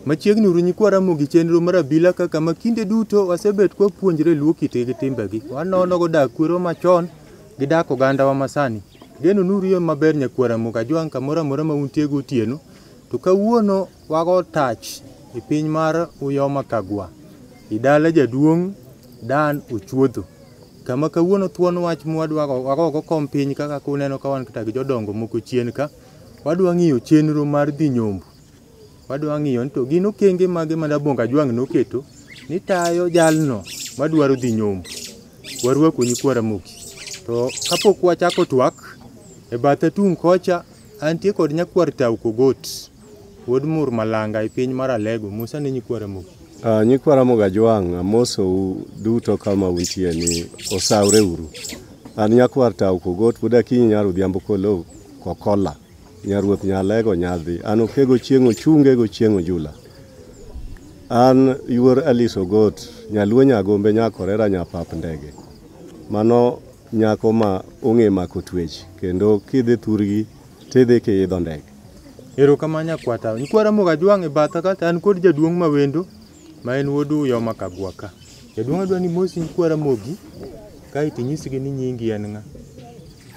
Machiegni uru nyikwa Ramogi chenro mar abila kaka ma kinde duto wasebet kwa puonjre luo kite gi timbegi. Wanono go dak kwero machon gi dak oganda wa masani. Geno nuru yo maber nyakwa Ramogi ajwang' kamoro amora ma untie gotieno. To kawuono Wago tach e piny mar Uyoma Kagwa, e dala jaduong' Dan Ochuodho, kama kawuono thuon wach mwadwa wago go kom piny kaka kuneno ka wan kata gi jodongo moko chien ka. Wadwa ng'iyo chenro mar dhi nyombo. Wadwa ng'iyo ni to gin okenge mage ma Dabonga Jwang' noketo ni tayo jalno madwaro dhi nyombo. Warwaku nyikwa Ramogi. To kapok wachako twak, e batha tung' kocha antie kod nyakwar Tau Kogot. Wuod Mur Malanga e piny mar Alego, Musa ne nyikwa Ramogi. Uh, nyikwa Ramogi Ajwang' amosou duto kama untie ni osawreuru. An nyakwar Tau Kogot pod akinyi nyar Odhiambo Kolo Kokola nyaruoth Nyalego Nyadhi an okego chieng' ochunge go chieng' ojula. An yuor Alice Ogot nyaluo nyagombe nyakorera nyapap ndege. Mano nyako ma ong'e mako twech kendo kidhi thurgi tidhi kiidho ndege. Erokamano nyakwata. Nyikwa Ramogi Ajwang' e batha ka to an kod jaduong' ma wendo ma en wuod Uyoma Kagwa ka. Jaduong' adwa ni mosi nyikwa Ramogi kaeto inyisgi ni nyingi en ng'a.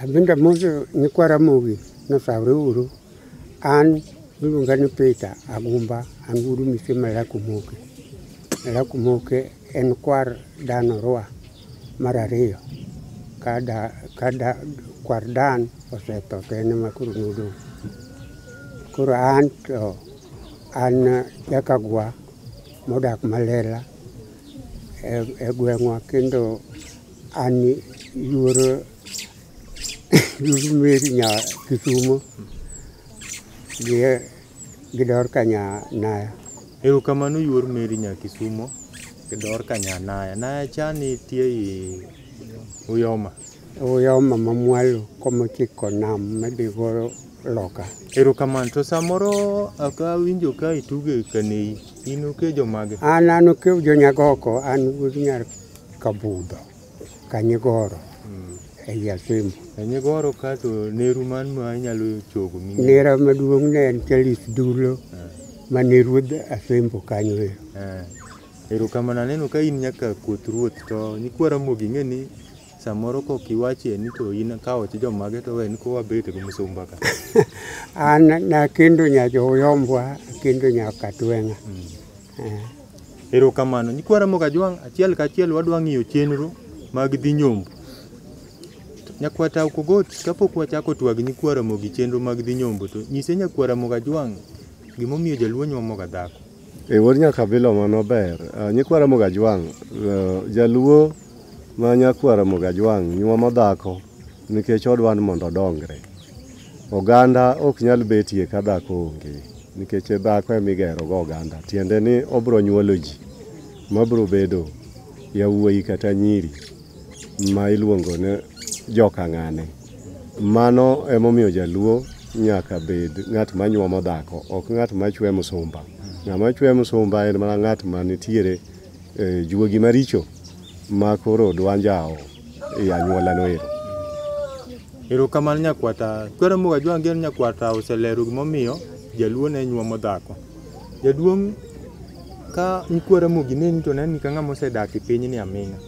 Abende amoso nyikwa Ramogi ni osawre uru. An iluonga ni Peter Agumba, an wuod mise Malak Omoke. Malak Omoke En kwar Dan Orua mar ariyo. Ka da, ka da, kwar Dan osetho to en ema koro nodong'. Koro an to an jakagwa modak Malela e, e gweng'wa kendo an yuoro yuoro Meri nya Kisumo gi Gidor ka nya naya. Erokamano yuor Mary nya Kisumo. Gidor ka nya naya. Naya chani tie i Uyoma. Uyoma mamwalo komochiko nam madhigo loka. Erokamano. To samoro aka winjo ka ituge kaneyi. In ukejo mage? An an ukew jonyagoko an wuod nyar kabudho. Kanyigoro e i Asembo. Kanyigoro kato neru man ma inyalo chogo mi. Nera maduong' ne en Charles Dulo eh. ma ne ruodh Asembo kanyo e. Eh. Erokamano aneno ka in nyaka koth ruoth to nyikwa Ramogi ing'e ni samoro kok iwache ni to in ka ot jomage to wen ko wabete gi musumba ka. An nakendo nyajoyombwa akendo nyaka tweng'a. Mm. Erokamano. Nyikwa Ramogi Ajwang' achiel kachiel wadwa ng'iyo chenro mag dhi nyombo. Nyakwa Tau Kogot kapok wachako twag nyikwa Ramogi chenro mag dhi nyombo to nyise nyakwa Ramogi Ajwang' gimomiyo jaluo nyuomoga dhako. E wuod nyakabilo mano ber. Ah, Nyikwa Ramogi Ajwang', eh, jaluo ma nyakwa Ramogi Ajwang' nyuomo dhako nikech odwa ni mondo odongre. Oganda ok nyal betie ka dhako onge, nikech e dhako ema igerogo oganda. Tiende ni obiro nyuolo ji mabiro bedo yawuoyi kata nyiri ma iluongo ni joka ng'ane. Mano emomiyo jaluo nyaka bed ng'at manyuomo dhako, ok ng'at machwe msumba. Ng'ama chwe msumba en mana ng'at manitiere eh, juogi maricho ma koro dwa njawo e anyuola noero. Erokamano nyakwata. Kwero Muga Jwang' Gen nyakwata oselero gimomiyo jaluo ne nyuomo dhako. Jaduong' ka nyikwara Mugi neni to neni ka ng'ama osedak e pinyni aming'a.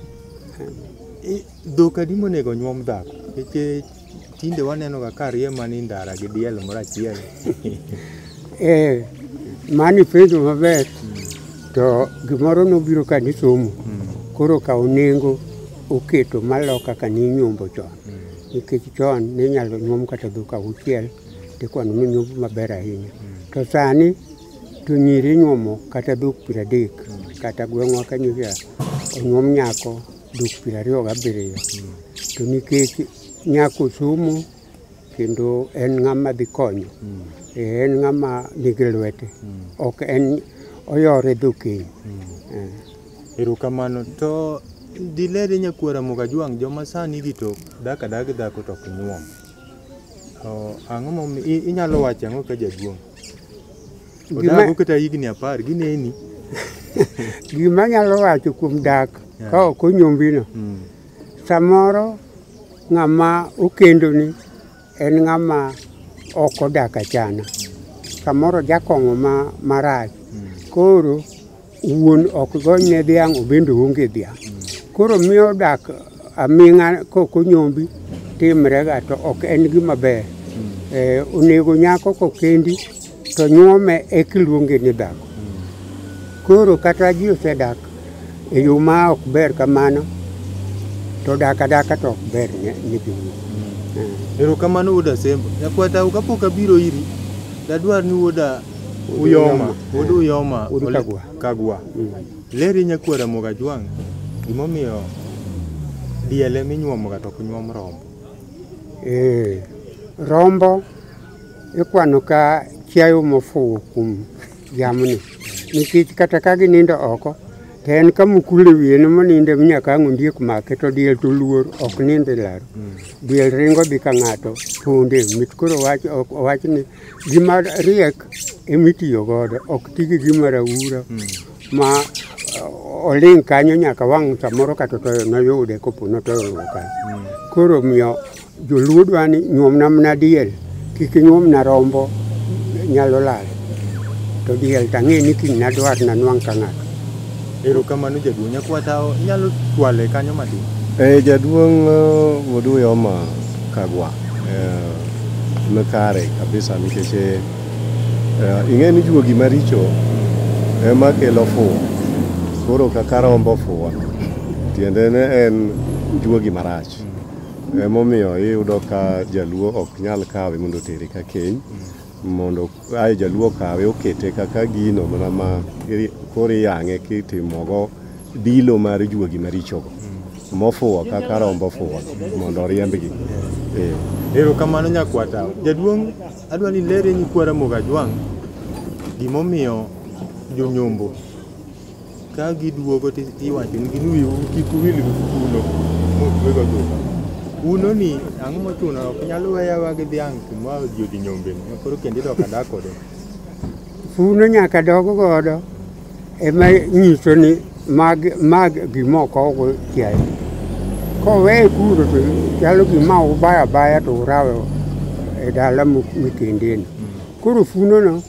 I- Dhok adi monego nyuom dhako? Nikech Tinde waneno ga ka rie mani ndara gi diel moro achiel. Eh, mani penjo maber to gimoro nobiro ka nisomo koro kawo nengo oketo malo kaka ninyombo chon nikech chon ninyalo nyuom kata dhok auchiel tikwano ni nyombo maber ahinya to sani to nyiri inyuomo kata dhok piero adek kata gweng'wa ka nyiri onyuom nyako dok piero ariyo gabiriyo to nikech nyako somo kendo en ng'ama dhi konyo Eh, en ng'ama nigi lwete ok en oyore dho keny Eh. erokamano to dilere nyakwara mukajwang' joma sani gi to dak adag dhako to ok nyuom To ang'o momi i- inyalo wacho ang'o ka jaduong' Odago kata higni apar gineni. Gima anyalo wacho kuom dak ka ok onyombino, mm. samoro ng'ama okendoni en ng'ama ok odak achana, samoro jakong'o marach. Mm. Koro Wuon ok gony ne dhiang' obende onge dhiang'. Koro miyo dak aming'a kok onyombi timrega to ok en gima ber. Eh, onego nyako kokendi to nyuome eka iluonge ni dhako. Koro kata ji osedak e yo ma ok ber kamano to dak adaka to ok ber ne ne jowuoyi. Eh. Erokamano wuod Asembo. Nyakwatau kapok abiro iri, dadwar ni wuoda Uyoma, wuod Uyoma Wuod Ole- Kagwa. Kagwa. Leri nyakuo Ramogi Ajwang' gimomiyo diele minyuomoga to ok nyuom rombo. Eh, rombo ikwano ka chiayo mofuwo kuom jamni nikech kata ka ginindo oko to en ka mukule wiye ne moninde nyaka ang' ondiek make to diel to luor ok nind e laro diel ringo dhi ka ng'ato ponde mit koro wach ok owach ni Gima riek emitiyo godo, ok ti gi gima raura hmm. ma uh, oling' kanyo nyaka wang' samoro kata otoyo noyude kopo notoyo luwo kanyo. Hmm. Koro omiyo joluo dwa ni nyuomna mana diel, kik inyuomna rombo nyalo lal. To diel tang'e ni kiny nadwar nanwang' ka ng'ato. Erokamano jaduong'. Nyakwa Tao inyalo twale kanyo matin. Eh, jaduong' uh, Oduyoma Kagwa eh, ne kare kabisa nikech eh, eh, ing'e ni juogi maricho ema kelo fuwo. Koro kaka rombo fuwo tiende ne en juogi marach. Emomiyo iyudo ka jaluo ok nyal kawe mondo otere ka keny mondo aye jaluo okawe okete kaka gino mana ma iri- koro iyang'e kitimogo dilo mar juogi marichogo mofuwo kaka rombo fuwo mondo oriembgi Eh. Erokamano nyakwata. Jaduong' adwa ni lere nyikwa Ramogi Ajwang' gimomiyo jonyombo Ka giduogo to iwacho nigi ni wiu kik wil gi kuno motwego dhok. Kuno ni ang'o mochuno ok nyal weyawa gi dhiang' kuma ji odhi nyombe ma koro kendo idok adak kode. Kuno nyaka dog godo ema nyiso ni mag mag gimoko ogo chiaye. Koweye kuno to chalo gima ubaya baya to urawe e dala mikendeni. Koro funono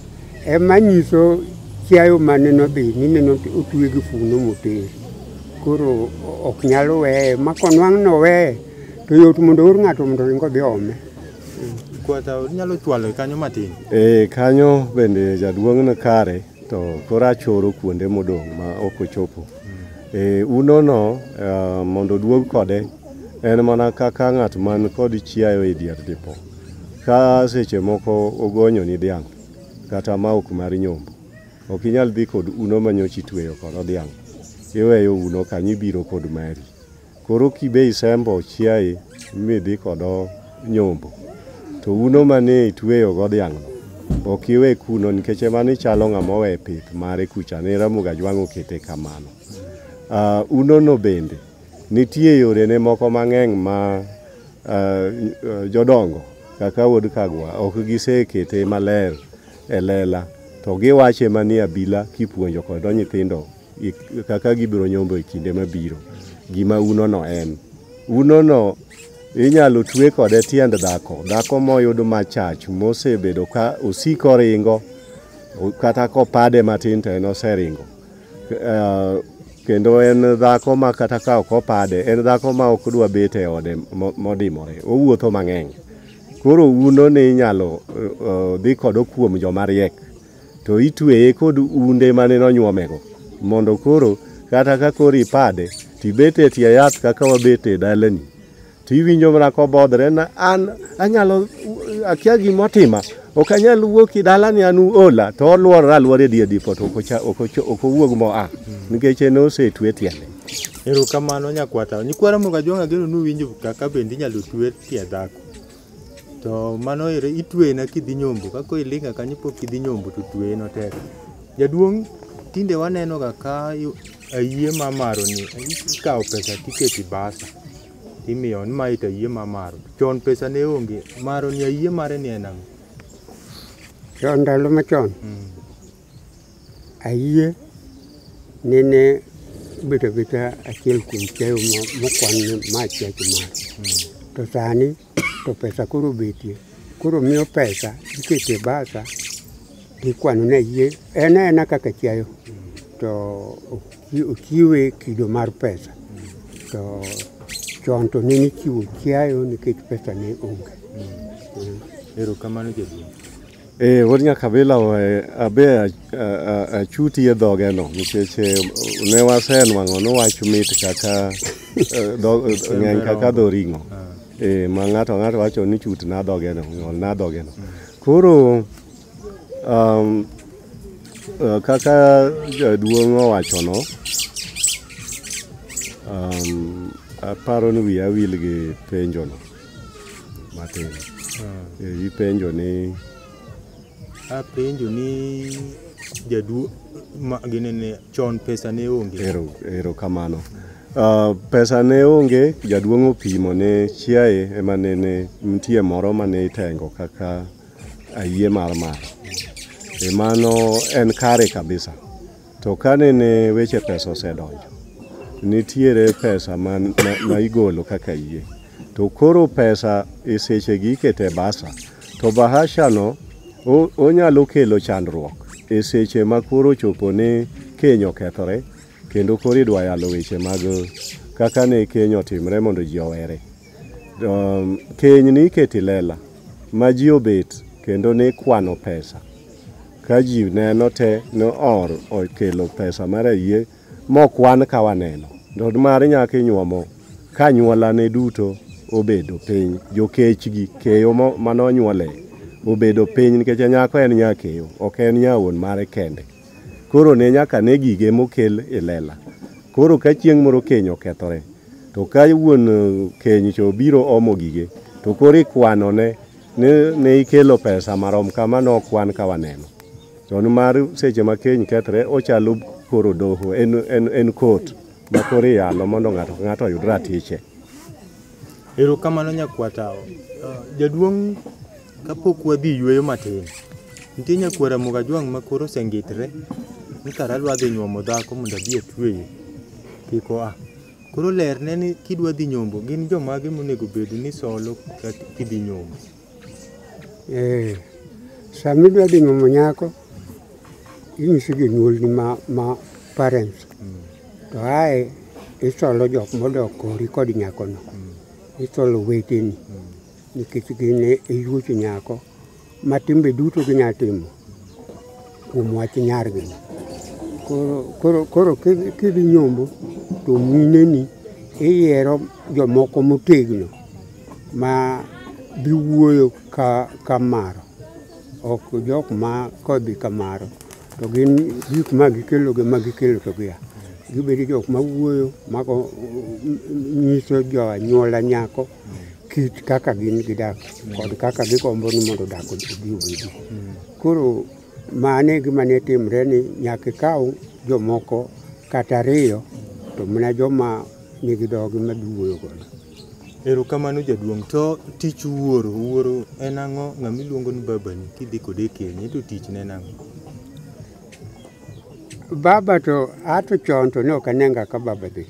Ema nyiso chiayo mane nodhi nyime notue gi funo moter. Koro ok nyal weye, ma konwang' noweye to yot mondo oor ng'ato mondo ringo dhi ome. Kwata nyalo chwalo e kanyo matin. Eh, kanyo bende jaduong' no kare to koro achoro kuonde modong' ma ok ochopo. Eh, unono eh, mondo oduog kode en mana kaka ng'at man kod chiayo e dier dipo. Ka seche moko ogonyo ni dhiang' kata maok mar nyombo, ok inyal dhi kod uno ma nyocha itweyo kodo dhiang'. Iweyo uno kanyo ibiro kod mari. Koro kibe isembo chiaye midhi kodo nyombo, to uno mane itweyogo dhiang'no ok iwe kuno nikech ema ni chalo ng'ama owe pith mare kucha ne Ramogi Ajwang' okete kamano. Uh, unono bende Nitie yorene moko mang'eny ma uh, jodongo kaka wuod Kagwa ok gisekete maler e lela to giwache manie abila kipuonjo kodo nyithindo kaka gibiro nyombo e kinde mabiro gima unono en unono inyalo twe kode tiend dhako dhako moyud machach mosebedo ka osiko ringo kata kopade matin to en oseringo Eh, kendo en dhako ma kata ka ok opade en dhako ma ok dwa bet e ode mo- modimore owuotho mang'eny koro uno ni inyalo eh, eh, dhi kodo kuom joma riek to itweye kod unde mane nonyuomego mondo koro kata ka koro ipade tibet e tie yath kaka wabet e dalani to iwinjo mana kobodhre na an anyalo akia gima otima ok anyal wuok i dalani an ola to olworore alwora e dier dipo to ok ocha- ok ocho- ok owuog moa nikech en osetwe tiende erokamano nyakwata nyikwara moga jonga geno nuwinjo kaka bende inyalo twe tie dhako to mano ere itweyena kidhi nyombo kaka ilinga kanyo pok idhi nyombo to tweyeno tek jaduong' tinde wanenoga ka yu- ayie mamaro ni ikawo pesa tiketi basa imiyo ni mae to ayie mamaro chon pesa ne onge maro ni ayie mare ni en ang'o chon ndalo machon Mm. ayie nene bedo abeda achiel kuom chiayo mo- mokwan ni ma chiacho mare to sani to pesa koro betie. Koro miyo pesa ikete e basa ikwano ne yie en ena kaka chiayo to ochiwe kido mar pesa to chon to ne nichiwo chiayo nikech pesa ne onge. Erokamano jaduong'. Eh, wuod Nyakabila eh, abe eh, eh, achuti e dhoge no nikech eh, ne wasenwang'o nowach mit kaka eh, dho- eh, ng'eny kaka dho ring'o Eh, ma ng'ato ng'ato wacho ni chut na dhoge no ng'ol na dhoge no koro um, eh, kaka jaduong' owacho no um, aparo ni wiya wil gi penjo no matin Eh, ipenjo ni apenjo ni jaduo ma ginene chon pesa ne onge ero ero kamano Ah, pesa ne onge jaduong' opimo ne chiaye ema nene nitie moro mane itengo kaka ayie mar mar emano en kare kabisa To kane ne weche pesa osedonjo, nitiere pesa ma, ma, ma igolo kaka yie. To koro pesa e sechegi iketo e basa. To bahashano o- onyalo kelo chandruok e seche ma koro chopo ni keny okethore kendo koro idwa yalo weche mag kaka ne keny otimre mondo ji owere. Um, keny ni iketo i lela ma ji obet kendo ni kwano pesa. Ka ji neno te no or okelo pesa mar ayie mokwan ka waneno. To mar nyaka inyuomo ka nyuolane duto obedo piny. Jokechgi, keyo mo- mane onyuole obedo piny nikech nyako en nyakeyo, ok en nya wuon mare kende. Koro ne nyaka ne gige mokel e lela. Koro ka chieng' moro keny okethore, to ka wuon eh, keny cha obiro omo gige, to koro ikwanone ni ne ikelo pesa marom kama nokwan ka waneno to nimar seche ma keny kethre ochalo koro doho en, en, en kot ma koro iyalo mondo ng'ato ka ng'ato oyud ratiche Erokamano nyakwata. Uh, Jaduong' kapok wadhi yueyo matin, nitie nyakwara Mugajwang' ma koro osengitre ni kara adwa dhi nyuomo dhako mondo abi atweye. Kik oa. Koro lerne ni kidwa dhi nyombo gin jomage monego bed ni solo ka kidhi nyombo. Eh, sama idwa dhi nyuomo nyako, inyiso jonyuolni ma, ma parents. To ae isolo jok modok kori kod nyakono. Isolo weteni. Nikech gin e yuoch nyako ma timbe duto ginyalo timo kuom wach nyargi. Koro, koro, koro kidhi kidhi nyombo to mineni iyiero jomoko motegno ma biwuoyo ka, ka maro ok jok ma kodhi ka maro to gin gik ma gikelo gi ma gikelo to gia gibedo jok ma wuoyo mago nyiso jo anyuola nyako kit kaka gin gidak kod kaka gigombo ni mondo dak obi obedi. Koro mane gima ne timre ni nyaka ikaw jomoko kata ariyo to mana joma nigi dhogi ma biwuoyo godo. Erokamano jaduong'. To tich wuoro, wuoro en ang'o? Ng'ama iluongo ni babani kidhi kode e keny, ento tichne en ang'o? Baba to ato chon to ne ok anenga ka baba dhi.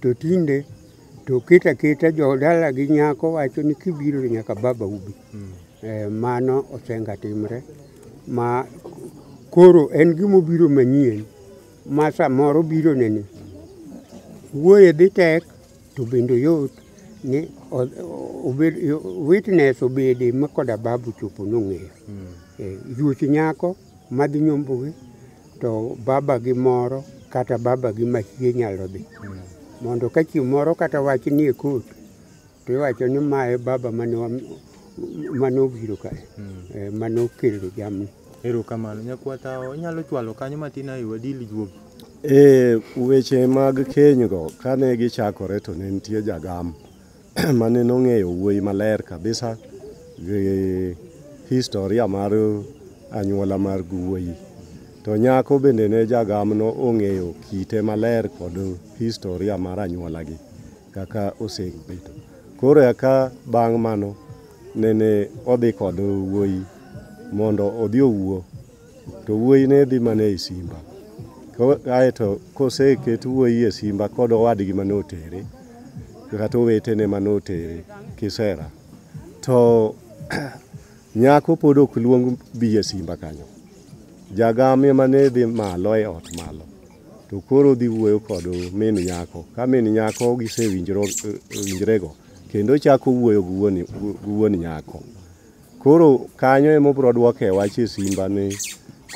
To tinde To kit akita jodala gi nyako wacho ni kibiro to nyaka baba ubi. Mm. Eh, mano osenga timre ma koro en gima obiro manyien ma samoro biro nene wuoye dhi tek to bende yot ni witness obede ma koda babu chopo nong'eyo. Mm. Eh, yuoch nyako madhi nyombogi to baba gi moro kata baba gi mahie nyalo dhi mondo ka chieng' moro kata wach nie kot to iwacho ni ma e baba mane wa- mane obiro kae eh, mane okelo jamni Erokamano nyakwata onyalo chwalo kanyo matin ayo wadili juogi. E weche mag kenygo kane gichakore to ne nitie jagam mane nong'eyo wuoyi maler kabisa gi historia mar anyuola mar wuoyi to nyako bende ne jagamno ong'eyo kite maler kod historia mar anyuolagi kaka osebedo koro eka bang' mano nene odhi kod wuoyi mondo odhi owuo to wuoyi ne dhi mana e simba kae to koseket wuoyi e simba kod owadgi mane otere kata owetene mane otere kisera to nyako pod ok luong bi e simba kanyo jagamia mane dhi malo e ot malo to koro dhi wuoyo kod min nyako ka min nyako gisewinjrego kendo chako wuoyo gi wuon nyako Koro kanyo ema obiro dwoke wach e simba ni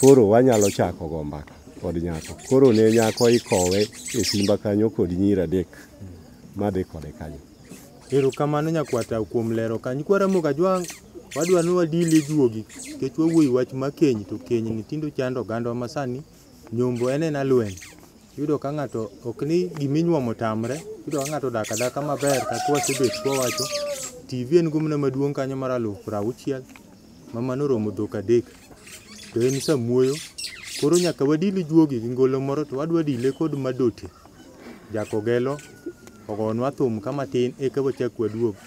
koro wanyalo chako go mbaka kod nyako. Koro ne nyako ikowe e simba kanyo kod nyiri adek madhi kode kanyo. Erokamano nyakwata kuom lero kanyo. Kwa Ramogi Ajwang' wadwa ni wadili juogi nikech wawuoyo e wach ma keny to kenyni tinde ochando ogandwa ma sani. Nyombo en en alweny. Yudo ka ng'ato ok ni gima inyuomo tamre, yudo ka ng'ato odak adaka maber kaka wasebet ka wawacho. TV en gumna maduong' kanyo mar alufu piero auchiel ma mano oromo dhok adek. To en samuoyo. Koro nyaka wadil juogi gi ngolo moro to wadwa dile kod madote. Jakogelo ogonwa thum ka matin eka wachak waduog.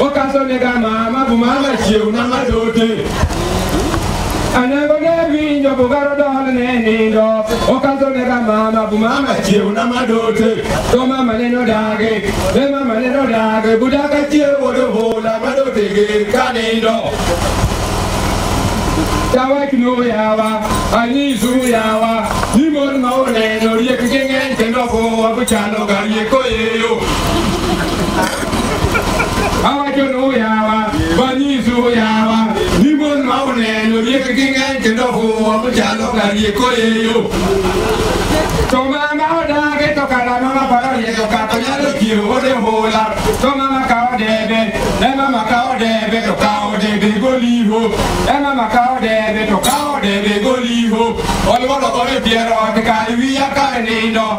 Okasonega mama bu mama chiewna madote Anego ne winjo bugaro dol ne nindo Okasonega mama bu mama chiewna madote To mama ne nodage, ne mama ne nodage Budaka chiewo do hola madote gi kanindo Yawa kino yawa, anyisu yawa Nimon ma oneno riek gi ng'eny kendo kowa buchalo ga rieko yeyo awachono yawa banyisu yawa ni mon ma uneno riek gi ng'eny kendo fuwo chalo ka rieko yeyo to mama odage to kara mama paro riedo kato nyalo kiro ode hula to mama kawo debe e mama kawo debe to kawo debe goliho e mama kawo debe to kawo debe goliho olwodo kode piero ot kar wiya kar nindo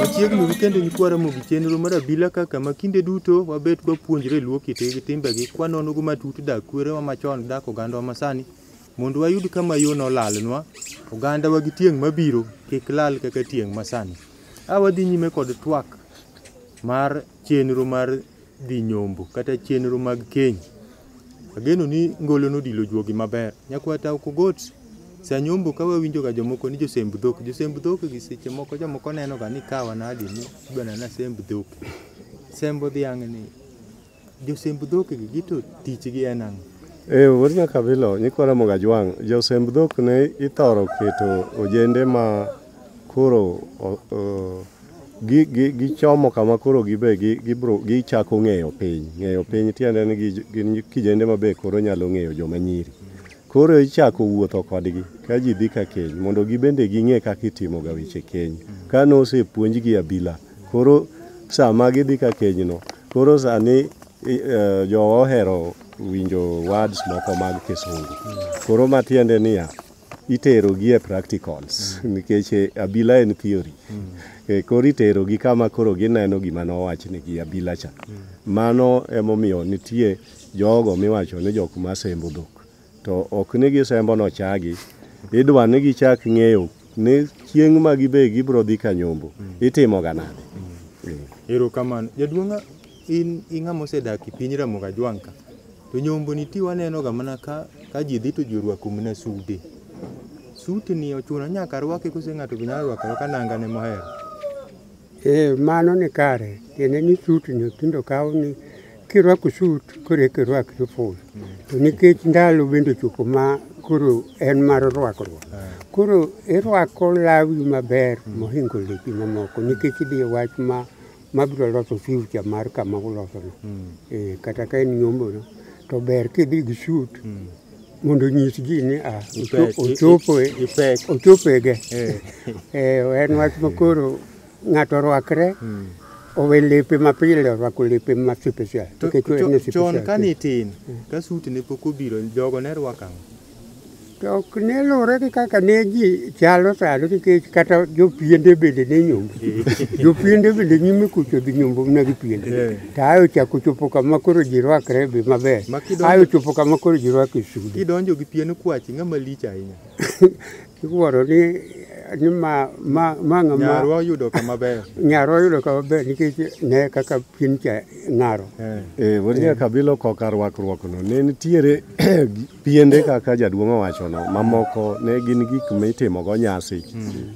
Machiegni wikend en kwaramo gi chenro mar abila kaka ma kinde duto wabet kwapuonjre luo kitegi timbegi kwanonogo matut dak kwerewa machon dak ogandawa masani Mondo wayud kama yo nolalnwa, ogandawa gi tieng' mabiro kik lal kaka tieng' masani. A wadhi nyime kod twak mar chenro mar dhi nyombo kata chenro mag keny. Ageno ni ngolo nodilo juogi maber. Nyakwa Tau Kogot, sa nyombo ka wawinjoga jomoko ni josemb dhok. Josemb dhok gi seche moko jomoko nenoga ni kawa nadi ni idwa nena semb dhok. Sembo dhiang' ni. Josemb dhok gi gito tichgi en ang'o? E wuod Nyakabilo, nyikwa Ramogi Ajwang', josemb dhok ne ithoro keto ojende ma koro gichomo kama koro gibe gichako ng'eyo piny. Ng'eyo piny tiende ni gin kijende ma be koro nyalo ng'eyo joma nyiri. Koro ichako wuotho kodgi ka ji dhi ka keny mondo gibende ging'e kaka itimoga weche keny ka nosepuonjgi abila. Koro sama gidhi ka kenyno, koro sani i- eh, jowa ohero winjo words moko mag kisungu. Koro matiende niya, iterogi e practicals nikech eh, abila en theory. Eh, Koro iterogi kama koro gineno gima nowachnigi abila cha. Mano emomiyo nitie jogo miwacho ni jok masembo dhok. To ok ni gisembo nochagi. Idwa ni gichak ng'eyo ni chieng' ma gibe gibiro dhi ka nyombo. Mm. Itimoga nade? Mm. Erokamano. Jaduong'a in ing'ama osedak e piny Ramogi Ajwang' ka. To nyombo ni ti wanenoga mana ka ka ji dhi to ji orwako mana sude. Suti ni ochuno nyaka rwake kose ng'ato be nyalo rwako arwaka nanga ne mohero. Eh, mano ni kare tiende ni sut ni tindo kawo ni kirwako sut koro eka irwak siful to nikech ndalo bende ochopo ma koro en mar rwakruok koro irwako lawi maber mohingo lepi mamoko nikech idhi e wach ma mabiro loso future mar kama ulosono Eh, kata ka en nyombono to ber kidhi gi sut mondo nyis ji ni a ah, Ipek, ochopo e- ipek. ochopo e ge Eh. eh, en wach makoro ng'ato orwakre Hmm. owe lepe mapile orwako lepe ma special To nikech en cho- special. chon kane itin ka suti ne pok obiro jogo ne rwako ang'o to ok ne luwore gi kaka ne ji chalo sano nikech kata jopiende bende ne nyombo jopiende bende nyime kucho dhi nyombo mana gi piende Eh. To ayo chako chopo kama koro ji rwakre be maber. Ma kidonjo- Ayo chopo kama koro ji rwake sude. Kidonjo gi pien kwachi ng'ama lich ahinya. Iwuoro ni ni ma ma ma ng'ama Nyarwa oyudo kama ber. nyaro oyudo kama ber nikech ne kaka pien cha ng'aro. Eh. Eh, wuod Nyakabilo koka rwakruokno ne nitiere piende kaka jaduong' owachono mamoko ne gin gik mitimogo nyasi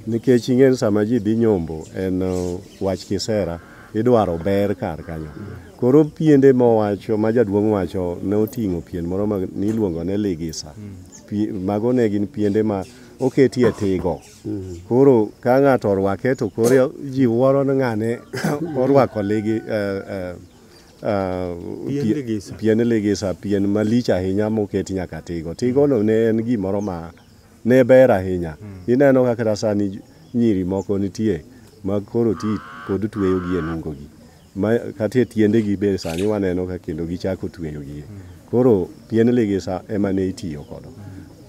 nikech ing'en sama ji dhi nyombo en uh, wach kisera idwaro ber kar kanyo. Koro piende mowacho ma jaduong' wacho ne oting'o pien moro ma niluongo ne ligisa. Pi- Mago ne gin piende ma oketie tigo. Koro ka ng'ato orwake to koro ji wuoro ni ng'ane orwako ligi eh, eh, eh, Pien pie- ligisa. pien ligisa, pien malich ahinya moket nyaka tigo. Tigono ne en gimoro ma ne ber ahinya. Ineno ka kata sani nyiri moko nitie ma koro ti pod tweyogi e nungogi. Ma kata e tiendegi be sani waneno ka kendo gichako tweyogi. Koro pien ligisa ema ne itiyo kodo.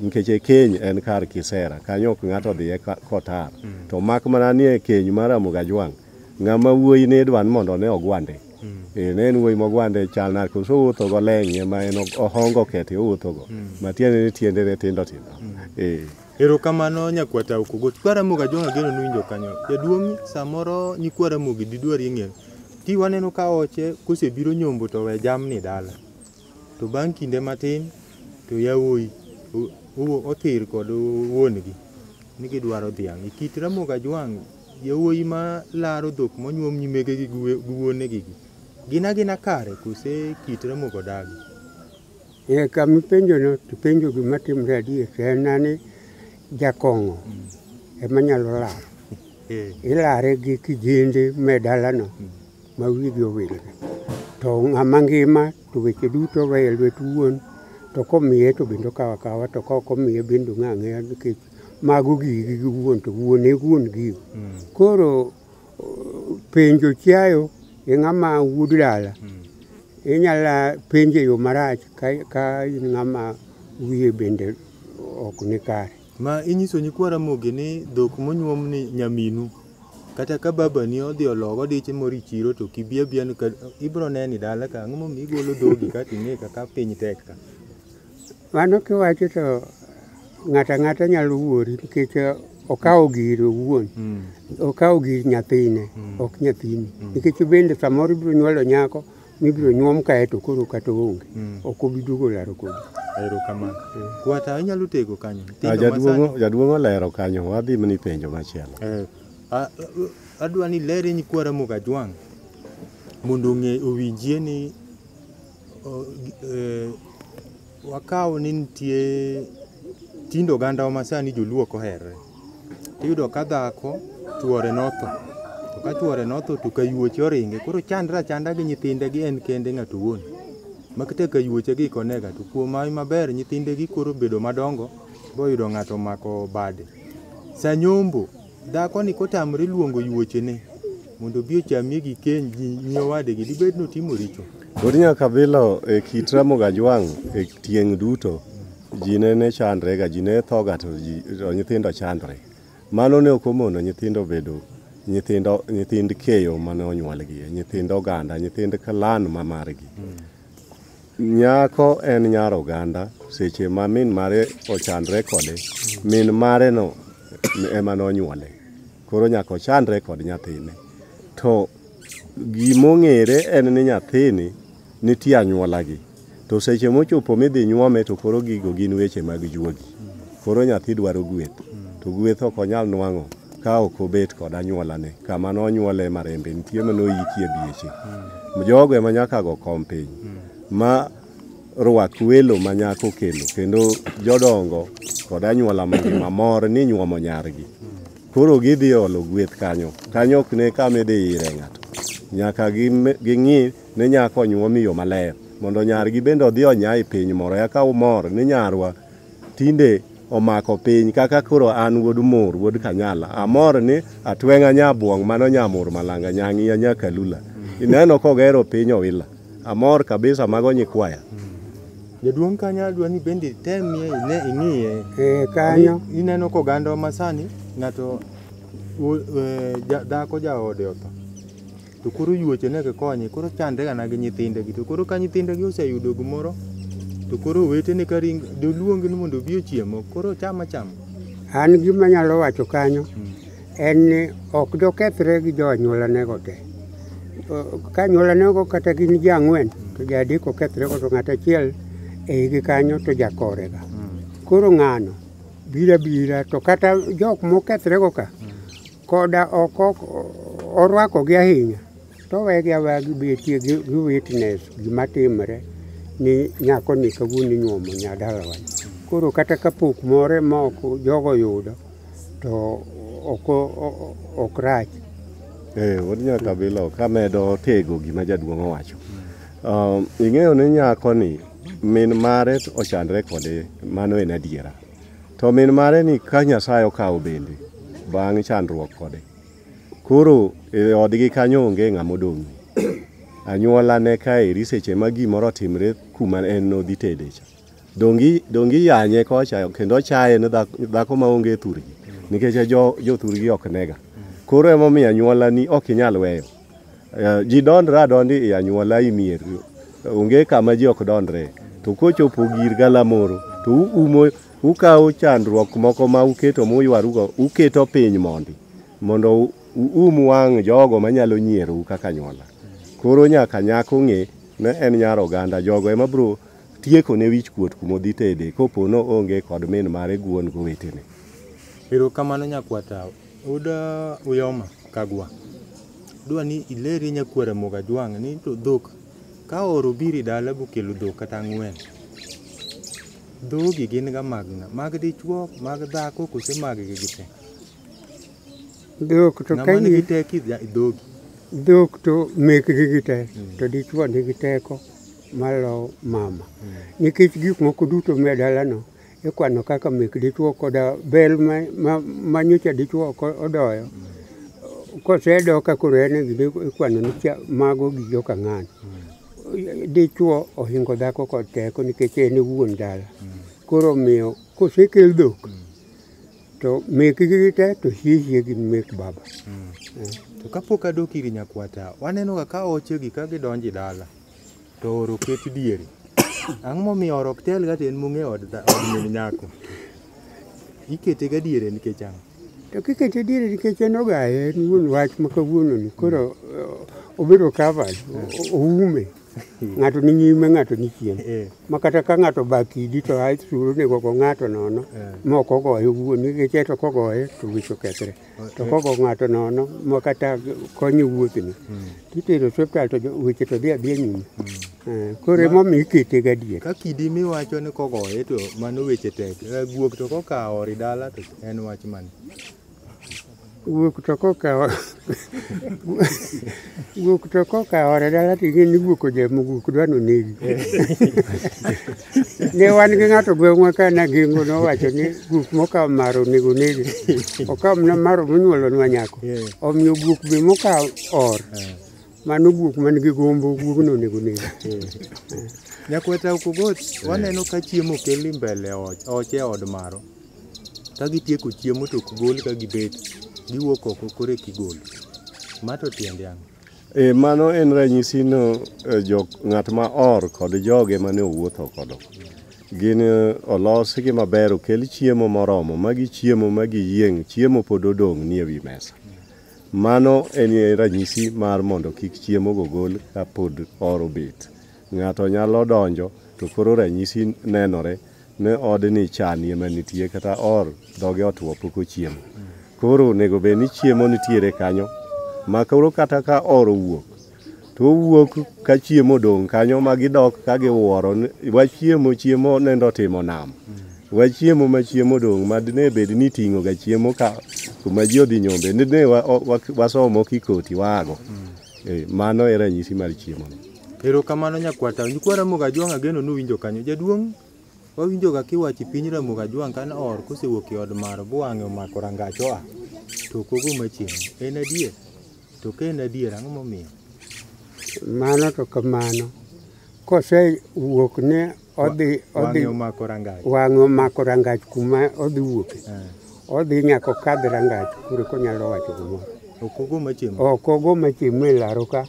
Nikech e keny en kar kisera, kanyo ok ng'ato dhiye ka- kotar. To mak mana ni e keny mar Ramogi Ajwang', ng'ama wuoyi ne idwa ni mondo ne ogwande Eh, ne en wuoyi mogwande e chal nade koso owuotho go leng'e ma en ohongo kete owuotho go ma tiende ni tiende ne tindo tindo Eh, Erokamano nyakwata okugo. Kwara moga jonga geno nuwinjo kanyo. Jaduong' samoro nyikwara mogi didwari ng'eyo. Ti waneno ka oche kosebiro nyombo to we jamni dala. To bang' kinde matin to yawuoyi othir kod wuon-gi ni gidwaro dhiang'. E kit Ramogi Ajwang', yawuoyi ma laro dhok monyuom nyimegegi gi wuonegigi gin agina kare kose kit Ramogi odagi? Eh, kama ipenjono to ipenjo gima timre adier to en na ni jakong'o ema nyalo laro. Eh, Ilare gi kijende me dalano. ma wigi owilgi to ng'ama ngima to weche duto we e lwet wuon to komiye to bende okawo akawa to ka ok omiye bende ong'e ang'eya nikech mago gigi gi wuon to wuon e wuon gigo koro uh, penjo chiayo e ng'ama wuod dala inyala penje yo marach ka, ka in ng'ama wiye bende ok ni kare Ma inyiso nyikwa Ramogi ni dhok monyuom ni nyaminu. Kata ka babani odhi ologo diche moro e chiro to kibi abiya ni ka- ibiro neni dala ka ang'o momiyo igolo dhogi ka ting'e ka ka piny tek ka. Mano kiwacho to ng'ato ang'ata nyalo wuori nikech eh, okawo giri owuon. Mm. Okawo gir nyathine, Mm. ok nyathini. Nikech bende samoro ibiro nyuolo nyako mibiro nyuom kae to koro kata oonge Mm. ok obi duogo laro kodi Erokamano. Kwata inyalo tego kanyo. Ah, Nyithindo masani- Jaduong' jaduong' olero kanyo, wadhi mni penjo machielo. Eh, a- a- adwa ni lere ni kwara Mugajwang' mondo ong'e owinjie ni o- gi- eh, Wakaw ni nitie tindo ogandawa ma sani joluo ok oherre. Iyudo ka dhako chuore notho, to ka chuore notho to kayuoche oringe koro chandre achanda gi nyithinde gi en kende ng'ato owuon. Ma kata kayuoche gi konega to kuom hawi maber nyithindegi koro obedo madongo boyudo ng'ato omako bade. Sanyombo Dhakoni kotamre luongo yuochene mondo obi ochamie gi keny gi nyi owadegi, dibed notimo richo? Pod nyaka bilo e kit Ramogi Ajwang' e tieng' duto, ji ne ne chandrega, ji ne thoga to ji to nyithindo chandre. Mano ne ok omono nyithindo bedo nyithindo nyithind keyo mane onyuolgi, nyithind oganda, nyithind clan ma margi. Nyako en nyar oganda seche ma min mare ochandre kode, min mare no ema nonyuole. Koro nyaka ochandre kod nyathine. To gimong'ere en ni nyathini nitie anyuolagi. To seche mochopo midhi nyuome to koro gigo gin weche mag juogi. Koro nyathi dwaro gweth. To gweth ok onyal nwang'o ka ok obet kod anyuolane kama nonyuole marembe nitie ma noyikie bieche mm. jogo ema nyaka go kom piny mm. ma rwak welo ma nyako kelo kendo jodongo kod anyuola mangima mor ni nyuomo nyargi koro gidhi olo gweth kanyo kanyo ok ne kama idhi ire ng'ato nyaka ging'i ne nyako onyuom e yo maler mondo nyargi bende odhi onya e piny moro eka umor ni nyarwa tinde omako piny kaka koro an wuod mur wuod kanyala amor ni atweng'a nyabuong' mano nyamur malanga nyang'iya nyakalula ineno kogero piny owila amor kabisa mago nyikwaya jaduong' kanyo adwa ni bende temie ine ing'iye Eh, kanyo I- ineno koganda masani ng'ato u- eh, ja- dhako jaode otho to koro yuoche ne kikonye koro chandre gana gi nyithindegi to koro ka nyithindegi oseyudo gimoro to koro owetene ka ring doluongi ni mondo obi ochiemo koro cham acham An gima anyalo wacho kanyo en ni ok dokethre gi jo anyuolanego te. O- Ka anyuolanego kata gin ji ang'wen to ji adek okethrego to ng'at achiel e igi kanyo to jakorega. Koro ng'ano bira bira to kata jok mokethrego ka Koda ok orwakogi ahinya, to owegi aweya gibetie gi witness gima timre ni nyako ni kawuono inyuomo nyadalawa. Koro kata kapok more ma ok jogo yudo to ok rach. Eh, wuod Nyakabilo kamedo tego gima jaduong' owacho. Um, ing'eyo ni nyako ni min mare ochandre kode mano en adiera. To min mare ni ka Nyasaye okawo bende bang' chandruok kode. Koro e odgi kanyo onge ng'ama odong'. Anyuola ne kaeri seche ma gimoro otimre kuma en nodhi tede cha. Dongi dongi yanye kocha kendo chaye ne dhako ma onge thurgi nikech jo jo thurgi ok nega. Koro emomiyo anyuola ni ok inyal weyo. Eh, ji dondre adonda e anyuola e mier onge kama ji ok dondre to kochopo gir galamoro to uumo ukawo chandruok moko ma uketo muywarugo uketo piny mondi mondo uum wang' jogo manyalo nyierou kaka anyuola koro nyaka nyako ng'e ne en nyar oganda jogo ema bro tieko ne wich kuot kumodhi tede kopo no onge kod min mare guon gowetene erokamano nyakwatawa Oda Uyoma Kagwa, dwa ni ileri nyakwar Ramogi Ajwang' ni to dhok ka oro biri dala bokelo dhok kata ang'wen. Dhogi gin ga mag ng'a? Mag dichwo, mag dhako kose mag gi gite? Dhok to Ng'ama kain nigi teko idha- dhogi. dhok to mekgi gite to dichwo nigi teko malo mama nikech gik moko duto me dalano Ikwano kaka mek dichwo koda bel ma, ma, ma nyocha dichwo ok odoyo. Kosedo ka koro en e gide ikwano ni cha- mago gi joka ng'ano. Dichwo ohingo dhako kod teko nikech en e wuon dala. Koro omiyo kosekel dhok to mekgi gi te to hiehie gi mek baba. To kapok adok ir nyakwata, wanenoga ka oche gi ka gidonjo e dala. to oro ket diere. Ang'o momiyo oro ok tel ga to en mung'e od dha- od min nyako? Ikete ga diere nikech ang'o? To kikete diere nikech en ogaye en wuon wach ma kawuononi koro eh, obedo covered o- o- oume ng'ato ni nyime ng'ato ni chien Eh. ma kata ka ng'ato ba kidi to a suro nego go ng'ato nono Eh. ma ok ogoye owuon nikech eto kogoye to wich okethre to kogo ng'ato nono ma kata konyo wuothni titero osiptal to jo- weche to dhi adhiya nyime Eh, koro emomiyo ikete gadier ka kidi miwacho ni kogoye to mano weche tek Eh, guok to kokawo ori dala to en wach mane wuok to kokawo Guok to koka ore dala to ing'e ni guok oja mo guok dwa nonegi. Ne wan gi ng'ato gweng'wa ka nagengo nowacho ni guok mokawo maro onego nege. Okawo mana maro monyuolonwa nyako. Omiyo guok be mokawo or. Mano guok man gi gombo guogno onego nege. Nyakweta Okogoti, waneno ka chiemo okeli mbele ot, oche od maro. Ka gitieko chiemo to ok gol ka gibet, giwuok oko koro eki gol. Ma to tiende ang'o? E, mano en ranyisi no e, jok ng'at ma or kod joge mane owuotho kodo gin e, olosgi maber okel chiemo moromo ma gichiemo ma giyieng' chiemo pod odong' nie wi mesa mano en e, ranyisi mar mondo kik chiemo go gol ka pod or obet ng'ato nyalo donjo to koro ranyisi nenore ne odni chanie manitie kata or dhoge otwo pok ochiemo koro onego bed ni chiemo nitiere kanyo ma koro kata ka or owuok to owuok ka chiemo odong' kanyo ma gidok ka giwuoro ni, wachiemo chiemo nende otimo nam wachiemo ma chiemo odong' ma dine bed ni ting'o ga chiemo ka kuma ji odhi nyombe dine wa- wa- wasomo kikoti waago Eh, mano e ranyisi mar chiemono. Erokamano nyakwata. Nyikwa Ramogi Ajwang' ageno nuwinjo kanyo. Jaduong' wawinjoga kiwachi piny Ramogi Ajwang' kane oor kosewuok e od maro bwang'e omako rangach oa to ok ogo machielo. En adier? To ka en adier ang'o momiyo? Mano to kamano. Kosewuok ne odhi odhi wang'e omako rangach wang'e omako rangach kuma odhi wuoke Eh, odhi nyaka okadh rangach kure konyalo wacho gimoro ok ogo machiem ok ogo machiemo e laro ka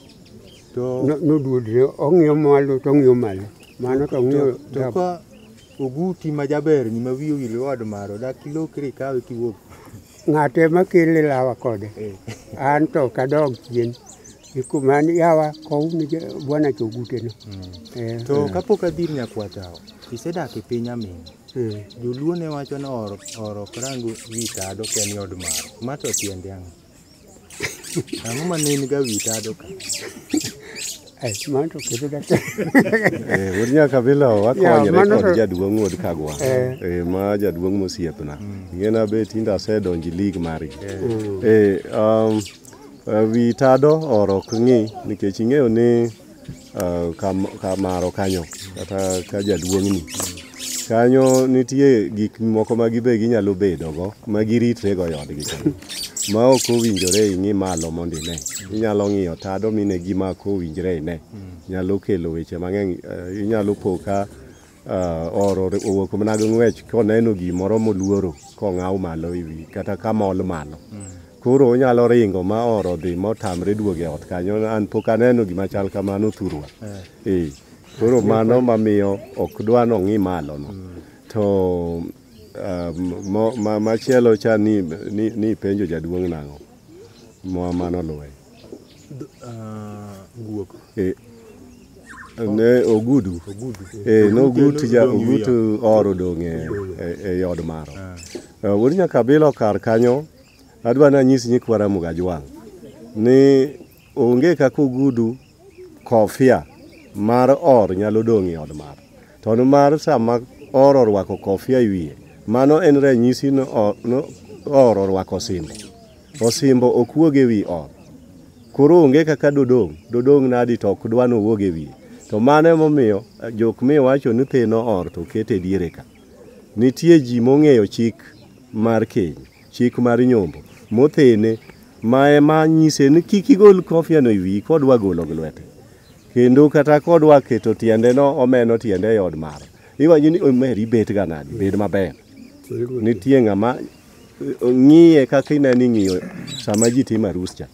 to no- noduodre ong'iyo malo to ong'iyo malo mano to ong'iyo to- to dab- ka oguti ma jaber ni ma wiye owil wad maro dak ilokri ikawe kiwuok ng'ate makele lawa kode Eh. an to kadog chien Iko man yawa kow ni je- bwana choguteno. Eh, To kapok adhi ir nyakwatao, isedak e piny amin. eh. Joluo ne wacho ni or or ok rang wi tado ka en od maro. Ma to tiende ang'o? Ang'o ma ne in ga wi tado ka? Ai, mano to kedo da. Eh, wuod nyakabila Yeah, wakonyore mano kod to- jaduong' wuod kagwa Eh. Eh, ma jaduong' mosiepna ing'ena be tinde asedonjo i lig margi Eh, um, Eh, wi tado oro ok ng'i nikech ing'eyo ni eh, kamaro kanyo kata ka jaduong'ni kanyo nitie gik moko ma gibe ginyalo bedogo ma giritrego e odgi kanyo ma ok owinjore ing'i malo mondo ine inyalo ng'iyo tado mine gima ok owinjre ine nyalo kelo weche mang'eny eh, inyalo po ka Ah, oro owuok mana gi ng'wech koneno gimoro moluoro kong'aw malo iwi kata kamol malo koro onyalo ringo ma oro dhi motamre duogo e ot kanyo an pok aneno gima chal kamano thurwa ee koro mano mamiyo ok dwa nong'i malono to ah, mo- ma- machielo cha ni ni- ni penjo jaduong' nang'o ma mano luwe guok Eh, ne ogudu ogudu Eh, nogut ja ogut or odong' e- e- ei od maro Eh, wuod nyakabilo kar kanyo adwa nanyis nyikwa ramogo ajwang' ni onge kaka ogudu kofia mar or nyalo dong' e od maro to ni mar sama or orwako kofia e wiye mano en ranyisi ni o- ni or orwako osimbo Osimbo ok wuog e wi ot. Koro onge kaka dodong', dodong' nadi to ok dwa nowuog e wiye. To mano emomiyo jok miwacho ni theno or to oket e diere ka. Nitie ji mong'eyo chik mar keny, chik mar nyombo, mothene ma ema nyise ni kik igol kofiano e wiyi kodwa golo gi lwete. Kendo kata kodwa keto tiendeno omeno tiende e od mare. Iwacho ni omeri betga nadi, bed maber. Nitie ng'ama ng'iye kaka inani ng'iyo sama ji timo arus cha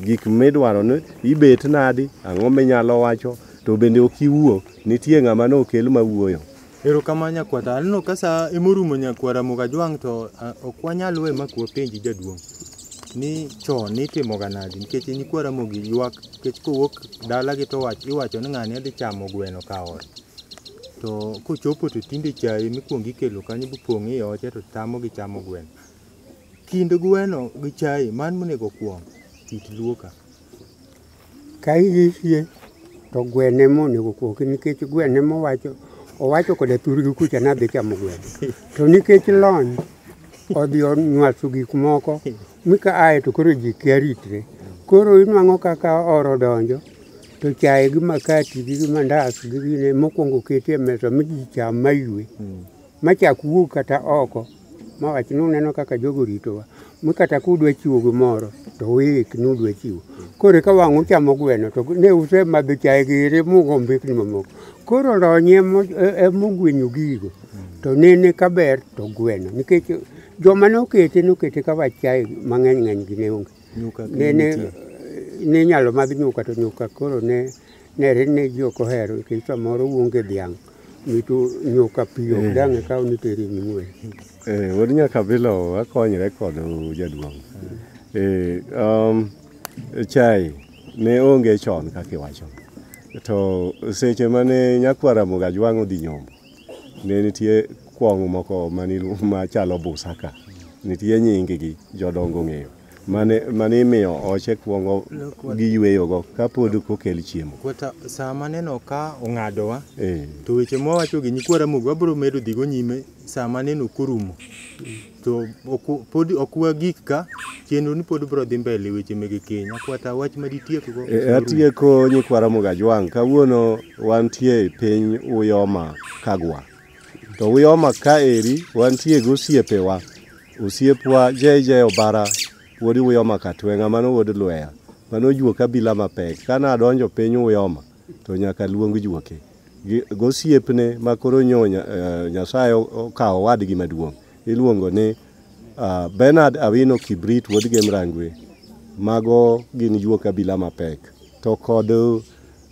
gik midwaro ni ibet nadi ang'o minyalo wacho to bende ok iwuo nitie ng'ama ne okel ma wuoyo erokamano nyakwata aneno ka sa emorumo nyakwara mugajwang' to ok wanyal we ma kuwa penji jaduong' ni chon nitimoga nadi nikech nyikwara mogi ywak nikech kowuok dalagi to iwacho ni ng'ani adhi chamo gweno ka ot to kochopo to tinde chae mikuongo ikelo kanyo bipong' i oche to tamo gi chamo gweno kind gweno gi chae man monego kwong kit luoka ka iyisie to gwene monego kwoki nikech gwene mowacho owacho koda thurgi kucha nadhi chamo gweno to nikech lony odhi onywaso gik moko Mi ka aye to koro ji kia ritre. Koro inwang'o kaka oro donjo to chaye gi makati gi gi mandas gi gine mokwongo keti e mesa mi ji cham maywe. Machak wuog kata oko mawach ni uneno kaka jogo ritowa. Mi kata kudwa chiwo gimoro to uik ni udwa chiwo. Koro eka wang' uchamo gweno to ne usemadho chaye giri mugo mbekni mamoko. Koro lony e mo- e- e mogwenyo gigo. to nene ka ber to gweno nikech joma nokete nokete ka wachae mang'eny ng'eny gi ne onge nene ne nyalo mag nyuka to nyuka koro ne nere ne ji ok ohero nikech samoro wuonge dhiang' mitu nyuka pi ok eh. dang'e kaw ni teri ming'wen eh, wuod nyakabilo akonyre kod jaduong' eh, um, chai ne onge chon kaka iwacho to seche mane nyakwara mogajwang' odhi nyombo Ne nitie kwong' moko machalo busa ka. Nitie nyinggi jodongo ong'eyo. Mane imiyo oche kwongo giyweyogo kapod kokel chiemo. Kwata sa maneno ka ong'adowa, to weche mwawacho gi nyikwa Ramogi wabro medo dhigo nyime sa maneno korumo. to oku- pod ok wagik ka chenro ni pod bro dhi mbele weche mege keny akwata wach ma ditiekgo E, Atieko nyikwa Ramogi Ajwang'. Kawuono wantie e piny Uyoma Kagwa. To Uyoma ka eri wantie gi osiepewa. Osiepwa JJ Obara wuod Uyoma Katweng'a mano wuod Lweya. Mano ojuo kabila mapek. Kane adonjo piny Uyoma to nyaka luong juoke gosiepne ma koro nyo eh, Nyasaye okawo wadgi maduong' iluongo ni ah, Bernard Awino Kibrit wuod Gemrangwe mago gin juok abila mapek to kod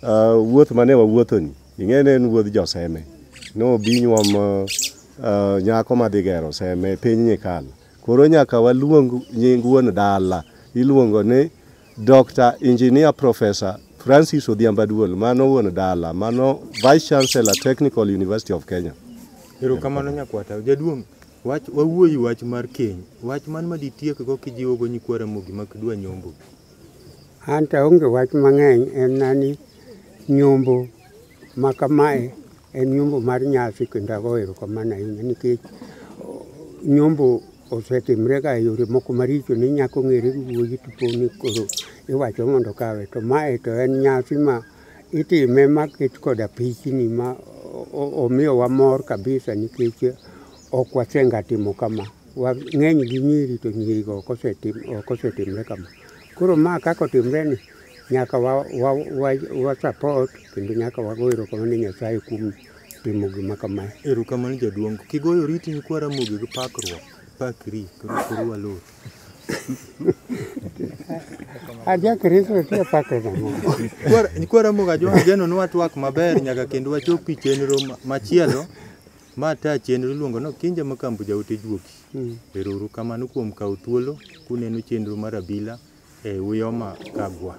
ah, wuoth mane wawuothoni ing'eni en wuodh joseme nobi nyuom ah, nyako madhi gero seme piny nyikalo koro nyaka waluong nying wuon dala iluongo ni Dr. Engineer Professor Francis Odhiambo Aduol, mano wuon dala, mano Vice Chancellor Technical University of Kenya. Erokamano nyakwata. Jaduong', wach wawuoyi wach mar keny. Wach man ma ditiek go kijiwo go nyikwa Ramogi ma kidwa nyombo. An to aonge wach mang'eny en na ni nyombo Ma kamae en nyombo mar nyasi kendo ago erokamano ahinya nikech nyombo osetimrega e yore moko maricho ni nyako ng'ere gi wuoyi to poni koro iwacho mondo kawe to mae to en nyasi ma itime maket koda pichni ma omiyowa mor kabisa nikech ok wasenga timo kama. Wang'eny gi nyiri to nyirigo ok osetimre kama. Koro ma kaka otimreni Nyaka wa, wa, wa, wa support kendo nyaka wago erokamano ne Nyasaye kuom timo gima kamae. Erokamano jaduong'. Kigoyo riti ni kwa Ramogi gi pakruok. Pakri koro koro walor. Aja Kristo tie pakre nang'o? Kwa- Kwa Ramogi ajwa ageno ni watwak maber nyaka kendo wachop pi chenro ma- machielo ma ta chenro iluongo no Kinja Makambu Jaote Juoki. Mm. Erouru kamano kuom kawo thuolo kuneno chenro mar abila E Uyoma Kagwa.